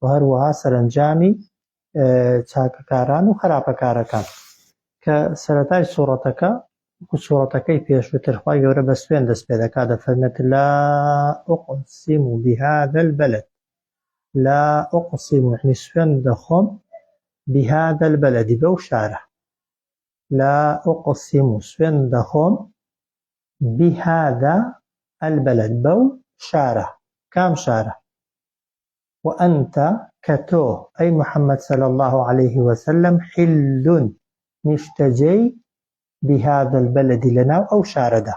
و هەروەها سەرەنجامی چاکەکاران و خراپەکارەکان کە سەرەتای سوڕەتەکە وەکو سوڕەتەکەی پێشووتر خوای گەورە بە سوێن دەست پێ دەکات دەفەرمێت لا ئوقسیم و بهذا البلد لا ئوقسیم و یعنی سوێن دەخۆم بهذا البلد بەو شارە لا ئوقسیم و سوێن دەخۆم بهذا البلد بەو شارە کام شارە و انت کە تۆ ئەی محمد صلی اللە علیە و سلم حل نیشتەجێی بهذا البلد لەناو ئەو شارەدا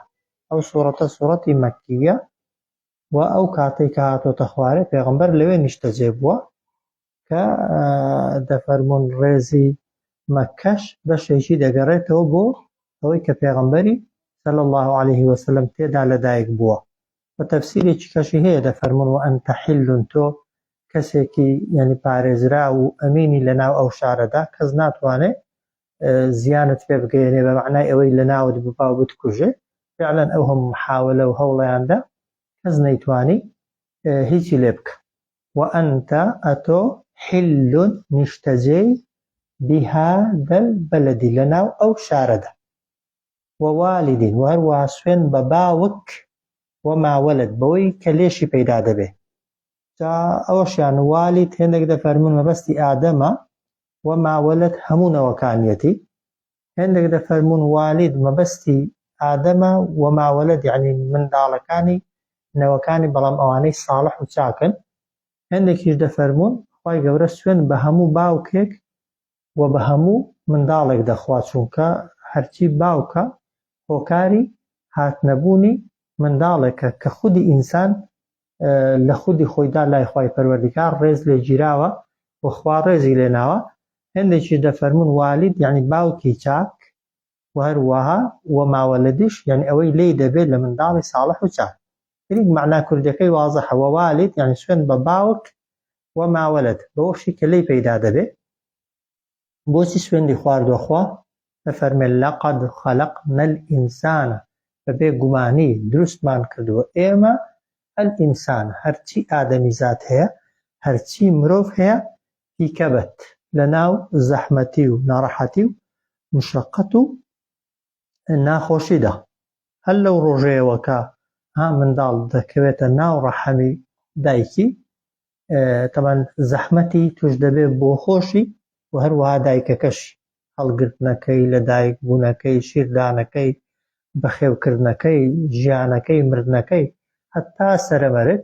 ئەو سوڕەتە سوڕەتی مەکیە و ئەو کاتەی کە هاتۆتە خوارێ پێغەمبەر لەوێ نیشتەجێ بووە کە دەفەرموون ڕێزی مەکەش بەشێکی دەگەڕێتەوە بۆ ئەوەی کە پێغەمبەری صلی اللە علیە و سلم تێدا لەدایک بووە وە تەفسیرێکی کەشی هەیە دەفەرموون وانت حل تۆ کەسێکی یانی پارێزراو و ئەمینی لەناو ئەو شارەدا کەس ناتوانێ زیانت پێ بگەێنێ بە معنای ئەوەی لەناوت ببا و بتکوژێ فعلا ئەو هەم محاولە و هەوڵیاندا کەس نەیتوانی هیچی لێ بکە وانت ئەتۆ حل نیشتەجێی بهذا البلد لەناو ئەو شارەدا ووالد و هەروەها سوێن بە باوک وما ولد بەوەی کە لێشی پەیدا دەبێ جا ئەوەشیان والد هێندێک دەفەرمون مەبەستی ئادەمە وما ولد هەموو نەوەکانیەتی هێندێک دەفەرمون والد مەبەستی ئادەمە وما ولد یعنی منداڵەکانی نەوەکانی بەڵام ئەوانەی ساڵح و چاکن هێندێکیش دەفەرمون خوای گەورە سوێن بە هەموو باوکێک و بە هەموو منداڵێک دەخوا چونکە هەرچی باوکە هۆکاری هاتنەبوونی منداڵێکە کە خودی ئینسان لە خودی خۆیدا لای خوای پەروەردیگار ڕێز لێ گیراوە و خوا ڕێزی لێ ناوە هێندێکیش دەفەرموون والید یەعنی باوکی چاک و هەر وەها و ماوە لە دژ یانی ئەوەی لێی دەبێت لە منداڵی ساڵح و چاک ترین مەعنا کوردیەکەی وازحە وە والید یانی سوێند بە باوک و ماولد بەوەشی کە لێی پەیدا دەبێت بۆچی سوێندی خواردوە خوا دەفەرمێت لەقەد خەلەقنا الانسان بە بێ گومانی دروستمان کردوە ئێمە الانسان هەرچی ئادەمیزاد هەیە هەرچی مرۆڤ هەیە تیکەبەت لەناو زەحمەتی و ناڕەحەتی و مشەقەت و ناخۆشیدا، هەر لەو ڕۆژەیەوە کە ها منداڵ دەکەوێتە ناو ڕەحمی دایکی تەبەن زەحمەتی توش دەبێت بۆ خۆشی و هەروەها دایکەکەشی، هەڵگرتنەکەی، لەدایک بوونەکەی، شیردانەکەی، بەخێوکردنەکەی، ژیانەکەی، مردنەکەی، هەتا سەرەمەرگ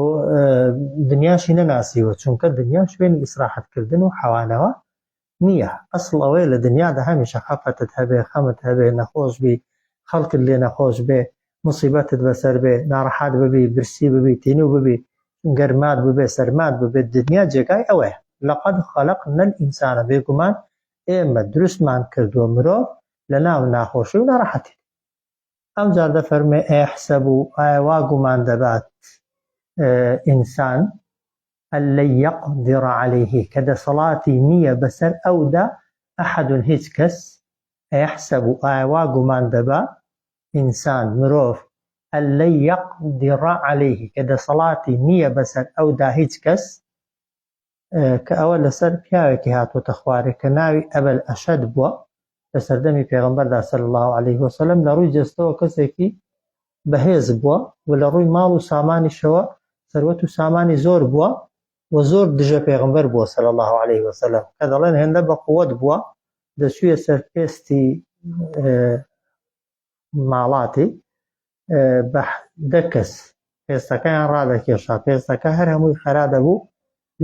و دنیاشی نەناسیوە چونکە دنیا شوێنی ئیسراحەت کردن و حەوانەوە نیە ئەسڵ ئەوەیە لە دنیادا هەمیشە خەفەتت هەبێ خەمت هەبێ نەخۆش بی خەڵکت لێ نەخۆش بێ موسیبەتت بەسەر بێ ناڕەحات ببی برسی ببی تینوو ببی گەرمات ببێ سەرمات ببێ دنیا جێگای ئەوەیە لەقەد خەلەقنا الانسان بێگومان ئێمە دروستمان کردووە مرۆڤ لەناو ناخۆشی و ناڕەحەتی ئەوجار دەفەرموێ ئەیەحسەبو ئایا وا گومان دەبات ئینسان ان لن یقدر علیه کە دەسەڵاتی نییە بەسەر ئەودا احد هیچ کەس ئەیەحسەبو ئایا وا گومان دەبا ئینسان، مرۆڤ، ان لن یقدر علیه کە دەسەڵاتی نییە بەسەر ئەودا هیچ کەس. کە ئەوە لەسەر پیاوێکی هاتووەتە خوارێ کە ناوی ئەبەل ئەشەد بووە لە سەردەمی پێغمبەردا سەل الله عليه وسلم لە ڕووی جەستەوە کەسێکی بەهێز بووە و لە ڕووی ماڵ و سامانیشەوە سەروەت و سامانی زۆر بووە و زۆر دژە پێغمبەر بووە سەل الله عليه وسلم کە دەڵێن هێندە بە قووەت بووە دەچوویە سەر پێستی ماڵاتی بە دە کەس پێستەکەیان ڕادەکێشا، پێستەکە هەر هەمووی خەرا دەبوو،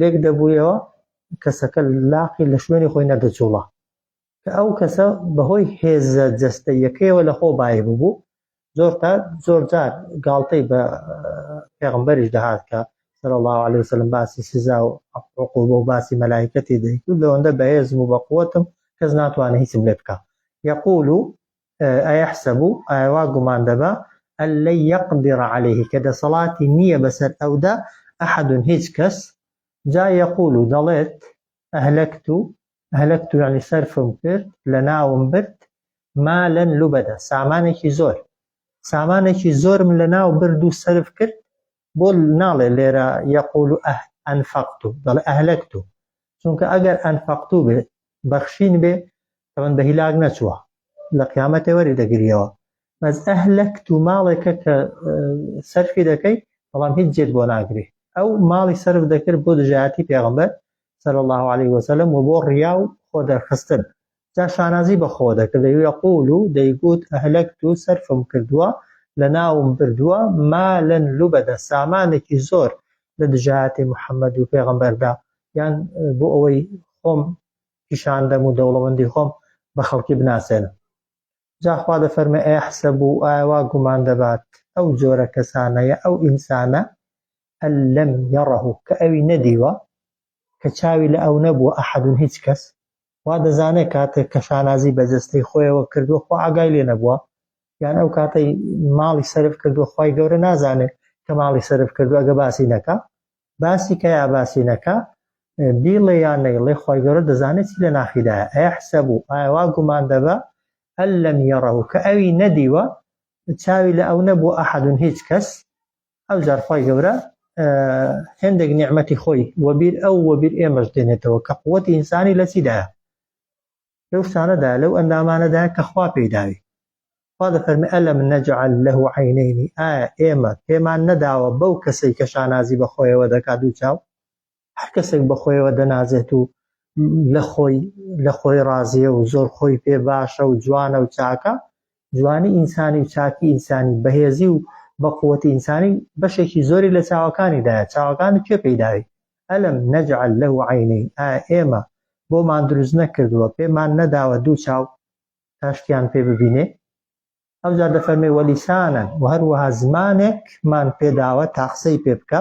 لێک دەبوویەوە، کەسەکە لاقی لە شوێنی خۆی نەدەجووڵا، کە ئەو کەسە بەهۆی هێزە جەستەییەکەیەوە لەخۆ بایی ببوو، زۆر تا زۆر جار گاڵتەی بە پێغمبەریش دەهات کە صلی الله علیه وسلم باسی سزا و عقوبە و باسی مەلایکەتی دەیکرد لەوەندە بەهێزم و بەقوەتم کەس ناتوانێت هیچم لێ بکە یقول ئەیەحسەبو ئایا وا گومان دەبا ئەن لەن یەقدرە عەلەیه کە دەسەڵاتی نییە بەسەر ئەودا ئەحەد هیچ کەس جا یەقول و دەڵێت ئەهلەکتو ئەهلەکتو یەعنی سەرفم کرد لەناوم برد مالا لوبدا سامانێکی زۆر سامانێکی زۆرم لەناو برد و سەرف کرد بۆ ناڵێ لێرە یەقول و ئەه ئەنفەقت و دەڵێ ئەهلەکت و چونکە ئەگەر ئەنفەقت و بێ بەخشین بێ تەمەن بە هیلاک نەچووە لە قیامەتێ وەری دەگریەوە بەس ئەهلەکت و ماڵێکە کە سەرفی دەکەیت بەڵام هیچ جێت بۆ ناگرێ ئەو ماڵی سرف دەکرد بۆ دژایەتی پێغمبەر سەر الله عليه وسلم و بۆ ڕیا و خۆ دەرخستن جا شانازی بە خۆ دەکرد، یقول، دەیگوت، اهلکت، سەرفم کردووە، لەناوم بردووە، مالا لبدا، سامانێکی زۆر لە دژایەتی محمد و پێغەمبەردا، یان بۆ ئەوەی خۆم پیشان دەم و دەوڵەمەندی خۆم بە خەڵکی بناسێنم. جا خوا دەفەرمێ، ایحسب، ئایا وا گومان دەبات ئەو جۆرە کەسانە یا ئەو ئینسانە، ان لم یره، کە ئەوی نەدیوە، کە چاوی لە ئەو نەبووە، احد، هیچ کەس، وا دەزانێت کاتێک کە شانازی بە جەستەی خۆیەوە کردووە خۆ ئاگای لێ نەبووە یان ئەو کاتەی ماڵی سرف کردووە خی گەورە نازانێت کە ماڵی سرف کردو ئەگە باسی نەکە باسی کە یا باسی نەکە بیڵێ یان نەیڵێ خی گەورە دەزانێت چی لە ناخیدایە ئەیە حسە بوو ئاوا گومان دەبە ئەل لەم یەڕەوە کە ئەوی نەدیوە چاوی لە ئەو نەبوو ئەحدون هیچ کەس ئەوجار خوای گەورە هێندێک نیعمەتی خۆی وەبیر ئەو وەبیر ئێمەش دێنێتەوە کە قوەتی ئینسانی لە چیدایە لەو شتانەدا لەو ئەندامانەدا کە خوا پێی داوی خوا دەفەرمی ئەلم نەجعل لەه عینەینی ئایا ئێمە پێمان نەداوە بەو کەسەی کە شانازی بەخۆیەوە دەکات دوو چاو هەر کەسێک بە خۆیەوە دەنازێت و لە خۆی لە خۆی ڕازیە و زۆر خۆی پێ باشە و جوانە و چاکە جوانی ئینسانی و چاکی ئینسانی بەهێزی و بەقوەتی ئینسانی بەشێکی زۆری لە چاوەکانیدایە چاوەکانی کێ پێیداوی ئەلم نەجعل لە و عینین ئا ئێمە بۆمان دروست نەکردووە پێمان نەداوە دوو چاو تاشتیان پێ ببینێ ئەوجا دەفەرمێ وەلیسانە و هەروەها زمانێکمان پێداوە تاقسەی پێ بکە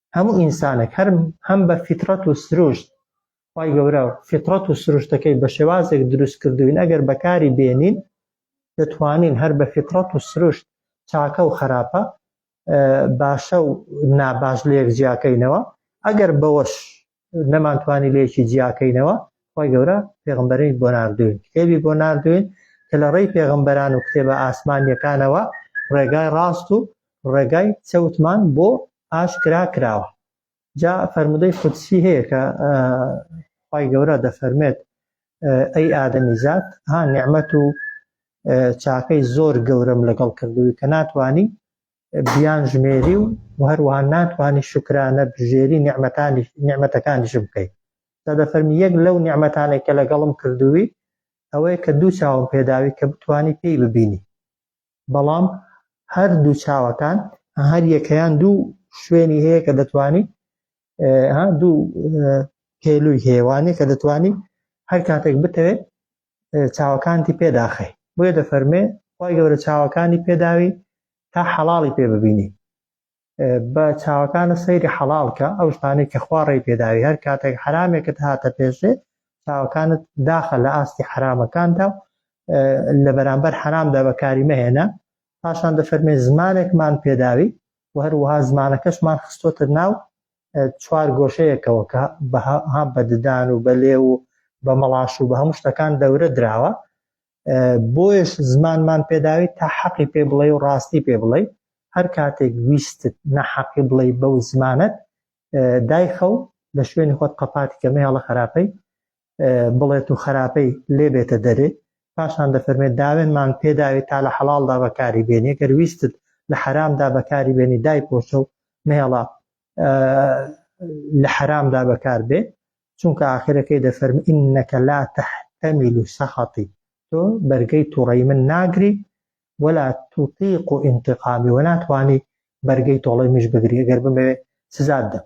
هەموو ئینسانێک هەر هەم بە فیتڕەت و سروشت خی گەورە فیتڕەت و سروشتەکەی بە شێوازێک دروست کردوین ئەگەر بەکاری بێنین دەتوانین هەر بە فیتڕەت و سروشت چاکە و خراپە باشە و ناباش لە یەک جیاکەینەوە ئەگەر بەوەش نەمانتوانی لێکی جیاکەینەوە خۆی گەورە پێغمبەرین بۆ نردوین کتێبی بۆ نردوین کە لە ڕێی پێغمبەران و کتێبە ئاسمانیەکانەوە ڕێگای ڕاست و ڕێگای چەوتمان بۆ ئاشکرا کراوە جا فەرمودەی خودسی هەیە کە خی گەورە دەفەرمێت ئەی ئادەمی زات ها نعممەت و چاکەی زۆر گەورەم لەگەڵ کردووی کە ناتانی بیانژمێری و هەروەها ناتوانی شکرانە بژێری نیعمەتانی نیعمەتەکانیشم بکەی تا دەفەرمی یەک لەو نیعمەتانێک کە لەگەڵم کردووی ئەوەیە کە دوو چاوم پێداوی کە بتانی پێی ببینی بەڵام هەر دوو چاوەکان هەر یەکەیان دوو شوێنی هەیە کە دەتوانی دوو پێلووی هێوانێک کە دەتوانی هەر کاتێک بتەوێت چاوەکانتی پێداخەی بۆیە دەفەرمێ خی گەورە چاوەکانی پێداوی تا حەڵی پێ ببینی بە چاوەکانە سەیری حەڵالکە ئەو شتانی کە خوارڕی پێداوی هەر کاتێک حرامێکت هاتە پێشێ چاوەکانت داخە لە ئاستی حرامەکاندا و لە بەرامبەر حرامدا بەکاری مەهێنە پاشان دەفەرمێ زمانێکمان پێداوی و هەروەها زمانەکەشمان خستۆتە ناو چوار گۆشەیەکەوە کە بەها بە ددان و بە لێو و بە مەڵاش و بە هەموو شتەکان دەورە دراوە بۆیش زمانمان پێداوی تا حەقی پێ بڵێ و ڕاستی پێ بڵێ هەر کاتێک ویستت نەحەقی بڵێ بەو زمانت دایخە و لە شوێنی خۆت قەپاتی کەمەیاڵە خراپەی بڵێت و خەراپەی لێ بێتە دەرێ پاشان دەفەرمێت داوێنمان پێداوی تا لە حەڵاڵدا بەکاری بێنی گەر ویستت لە حەرامدا بەکاری بێنی دای پۆشە و مێڵە لە حەرامدا بەکار بێ چونکە ئاخرەکەی دەفەرم ئینەکە لا تەحتەمیل و سەخەتی تۆ بەرگەی توڕی من ناگری ولا توتیق و ئینتقامی و ناتوانانی بەرگەی تۆڵەی مش بگری گەر بمەوێت سزاد دەم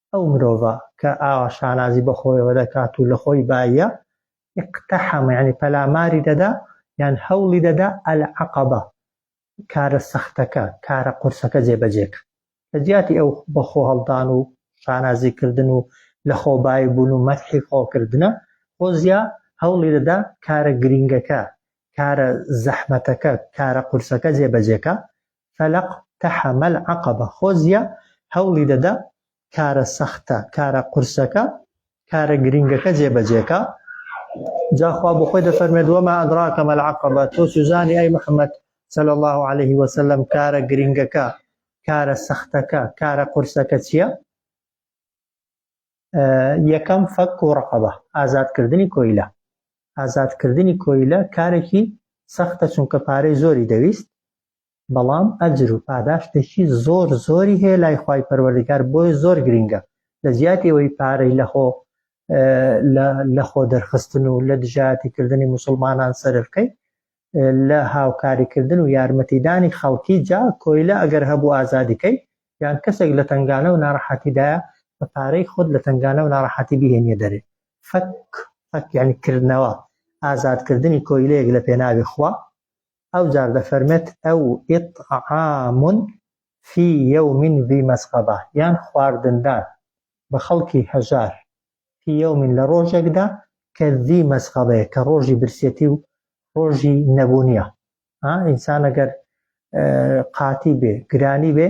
ئەو مرۆڤە کە ئاوا شانازی بە خۆیەوە دەکات و لە خۆی باییە، اقتحم یانی پەلاماری دەدا یان هەوڵی دەدا العقبە کارە سەختەکە، کارە قورسەکە جێبەجێ کات. لە جیاتی ئەو بە خۆ هەڵدان و شانازی کردن و لە خۆ بایی بوون و مەدحی خۆ کردنە، فۆزیا هەوڵی دەدا کارە گرینگەکە، کارە زەحمەتەکە، کارە قورسەکە جێبەجێ کات. فلق تحم العقبە خۆزیا هەوڵی دەدا کارە سەختە کارە قورسەکە کارە گرینگەکە جێبەجێکا جا خوا بۆ خۆی دەفەرمێت وما ادراک ما العقبە تۆ چزانی ئەی محمد صلی الله عليه وسلم کارە گرینگەکە کارە سەختەکە کارە قورسەکە چییە یەکەم، فەک و ڕەقەبە، ئازادکردنی کۆیلە. ئازادکردنی کۆیلە کارێکی سەختە چونکە پارەی زۆری دەویست، بەڵام ئەجر و پاداشتێکی زۆر زۆری هەیە لای خوای پەروەردگار بۆیە زۆر گرینگە لە جیاتی ئەوەی پارەی لە خۆ لە خۆ دەرخستن و لە دژایەتی کردنی موسڵمانان سەرفکەی لە هاوکاری کردن و یارمەتیدانی خەڵکی جا کۆیلە ئەگەر هەبوو ئازادی کەی یان کەسێک لە تەنگانە و ناڕەحەتی دایە بە پارەی خۆت لە تەنگانە و ناڕەحەتی بیهێنیە دەرێ فەک فەک یانی کردنەوە ئازاد کردنی کۆیلەیەک لە پێناوی خوا ئەو جار دەفەرمێت ئەو اطعام فی یوم ذی مسغبە یان خواردندان بە خەڵکی هەژار فی یوم لە ڕۆژێکدا کە ذی مەسغەبەیە کە ڕۆژی برسێتی و ڕۆژی نەبوونیە ها ئینسان ئەگەر قاتی بێ گرانی بێ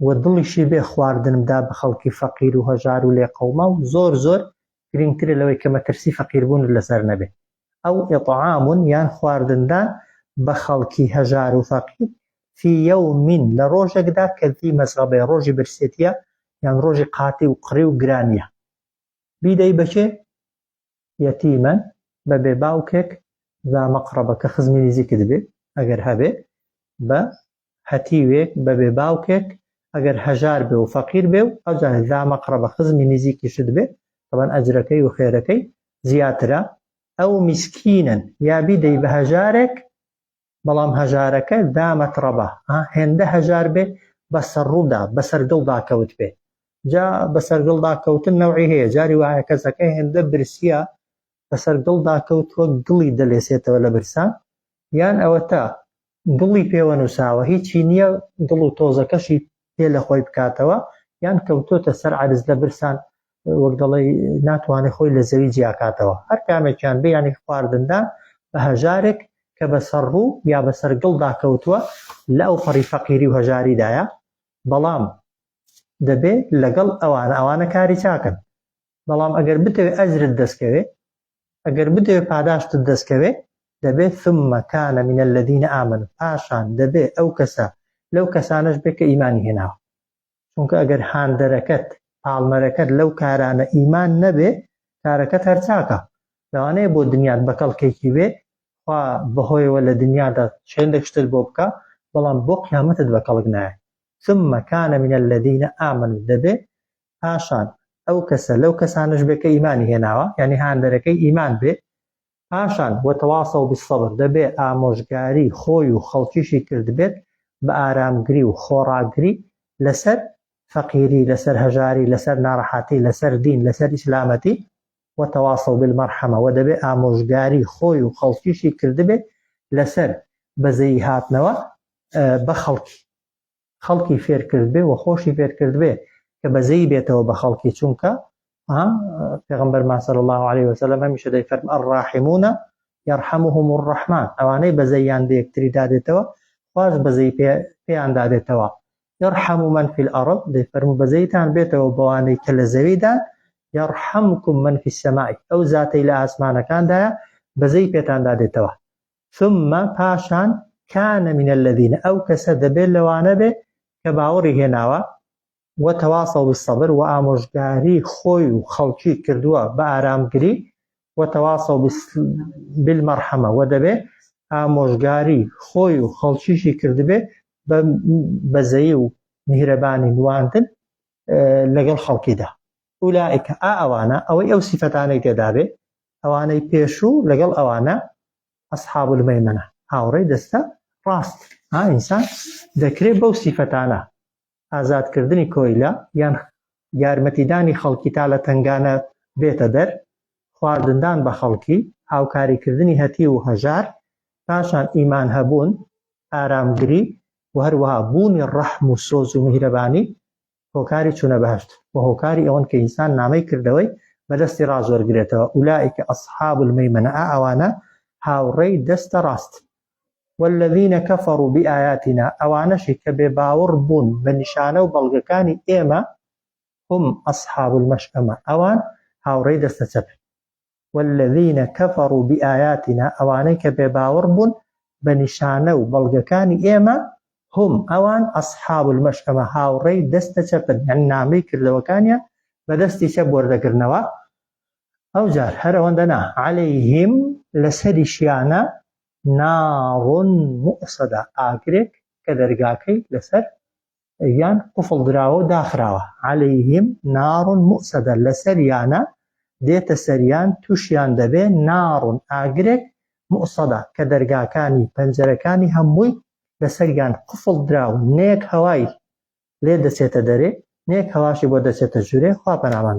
و دڵیشی بێ خواردن بدا بە خەڵکی فەقیر و هەژار و لێ قەوما و زۆر زۆر گرنگترە لەوەی کە مەترسی فەقیربوون لەسەر نەبێ ئەو اطعام یان خواردندان بە خەڵکی هەژار و فەقیر فی یوم لە ڕۆژێکدا کە ذی مسغبە ڕۆژی برسێتیە یان ڕۆژی قاتی و قڕی و گرانیە بیدەی بەکێ یەتیمەن بە بێ باوکێک ذا مقربە کە خزمی نزیکت بێ ئەگەر هەبێ بە هەتیوێک بە بێ باوکێک ئەگەر هەژار بێ و فەقیر بێ و ئەوجا زامە قڕبە خزمی نزیکیشت بێ تەبەن ئەجرەکەی و خێرەکەی زیاترە ئەو میسکینن یا بیدەی بە هەژارێک بەڵام هەژارەکە دامە تڕەبە ها هێندە هەژار بێ بە سەڕوودا بەسەر دڵدا کەوت بێ جا بەسەر دڵدا کەوتن نەوعی هەیە جاری وایە کەسەکە هێندە برسیە بەسەر گڵدا کەوت وەک گڵی دەلێسێتەوە لە برسا، یان ئەوەتا گڵی پێوە نووساوە هیچی نییە گڵ و تۆزەکەشی پێ لە خۆی بکاتەوە، یان کەوتۆتە سەر عەرز لە برسان وەک دەڵێی ناتوانێ خۆی لە زەوی جیاکاتەوە، هەر کامێکیان بێ یانی خواردندان بە هەژارێک کە بەسەر ڕوو یا بەسەر گڵدا کەوتووە لە ئەوپەڕی فەقیری و هەژاریدایە، بەڵام دەبێ لەگەڵ ئەوانە، ئەوانە کاری چاکن، بەڵام ئەگەر بتەوێت ئەجرت دەستکەوێت ئەگەر بتەوێت پاداشتت دەستکەوێت دەبێت ثم كان من الذين آمنوا پاشان دەبێت ئەو کەسە لەو کەسانەش بێت کە ئیمانی هێناوە چونکە ئەگەر هاندەرەکەت پاڵنەرەکەت لەو کارانە ئیمان نەبێ کارەکەت هەرچاکە لەوانەیە بۆ دنیات بە کەڵکێکی بێ خوا بەهۆیەوە لە دنیادا چێندێک شتت بۆ بکە بەڵام بۆ قیامەتت بە کەڵک نایە ثم كان من الذين آمنوا دەبێ پاشان ئەو کەسە لەو کەسانەش بێ کە ئیمانی هێناوە یعنی هاندەرەکەی ئیمان بێ پاشان وتواصوا بالصبر دەبێ ئامۆژگاری خۆی و خەڵکیشی کردبێت بە ئارامگری و خۆڕاگری لەسەر فەقیری لەسەر هەژاری لەسەر ناڕەحەتی لەسەر دین لەسەر ئیسلامەتی وتواصوا بالمرحمە وە دەبێ ئامۆژگاری خۆی و خەڵکیشی کردبێت لەسەر بەزەیی هاتنەوە بە خەڵکی خەڵکی فێر کردبێ و خۆشی فێر کردبێ کە بەزەی بێتەوە بە خەڵکی چونکە پێغمبەرمان صلی الله عليه وسلم هەمیشە دەی فەرم الراحمونە یرحمهم الرحمن ئەوانەی بەزەیان بە یەکتری دادێتەوە خواش بەزەی پێیان دادێتەوە یرحم من في الارض دەی فەرمو بەزەیتان بێتەوە بەوانەی کە لە زەویدا یرحمکم من في السماء ئەو زاتەی لە ئاسمانەکاندایە بەزەی پێتان دادێتەوە ثم پاشان کان من الذین ئەو کەسە دەبێت لەوانە بێ کە باوەڕی هێناوە و تەواصەو بالصبر و ئامۆژگاری خۆی و خەڵکی کردووە بە ئارامگری و تەواصەو بالمەرحەمە و دەبێ ئامۆژگاری خۆی و خەڵکیشی کردبێ بە بەزەیی و میهرەبانی نواندن لەگەڵ خەڵکیدا ئولائیکە ئا ئەوانە ئەوەی ئەو سیفەتانەی تێدابێ ئەوانەی پێشوو لەگەڵ ئەوانە، اصحاب المیمنە، هاوڕێی دەستە ڕاستن. ئا ئینسان دەکرێ بەو سیفەتانە، ئازادکردنی کۆیلە، یان یارمەتیدانی خەڵکی تا لە تەنگانە بێتە دەر، خواردندان بە خەڵکی، هاوکاریکردنی هەتیو و هەژار، پاشان ئیمان هەبوون، ئارامگری و هەروەها بوونی ڕەحم و سۆز و میهرەبانی هۆکاری چوونە بەهشت و هۆکاری ئەوەن کە ئینسان نامەی کردەوەی بەدەستی ڕازۆرگرێتەوە ئولائیکە ئەسحاب المەیمەنە ئەوانە هاوڕێی دەستە ڕاست والذینە کەفەڕ و بئایاتینا ئەوانەشی کە بێ باوەڕ بوون بە نیشانە و بەڵگەکانی ئێمە هم ئەسحاب المەشئەمە ئەوان هاوڕێی دەستە چەپ والذین کفروا بآیاتنا ئەوانەی کە بێ باوەڕ بوون بە نیشانە و بەڵگەکانی ئێمە هم ئەوان اصحاب المشئمە هاوڕێی دەستە چەپن یانی نامەی کردەوەکانیان بە دەستی چەپ وەردەگرنەوە ئەوجار هەر ئەوەندە نا عەلەیهم لەسەریشیانە ناڕ مؤصدە ئاگرێک کە دەرگاکەی لەسەر یان قفڵ دراوە و داخراوە علیهم نار موسەدە لەسەریانە دێتە سەریان توشیان دەبێ نار ئاگرێک موسەدە کە دەرگاکانی پەنجەرەکانی هەمووی لەسەریان قفڵ دراو نەیەک هەوای لێ دەچێتە دەرێ نەیەک هەواشی بۆ دەچێتە ژورێ خوا پەنامان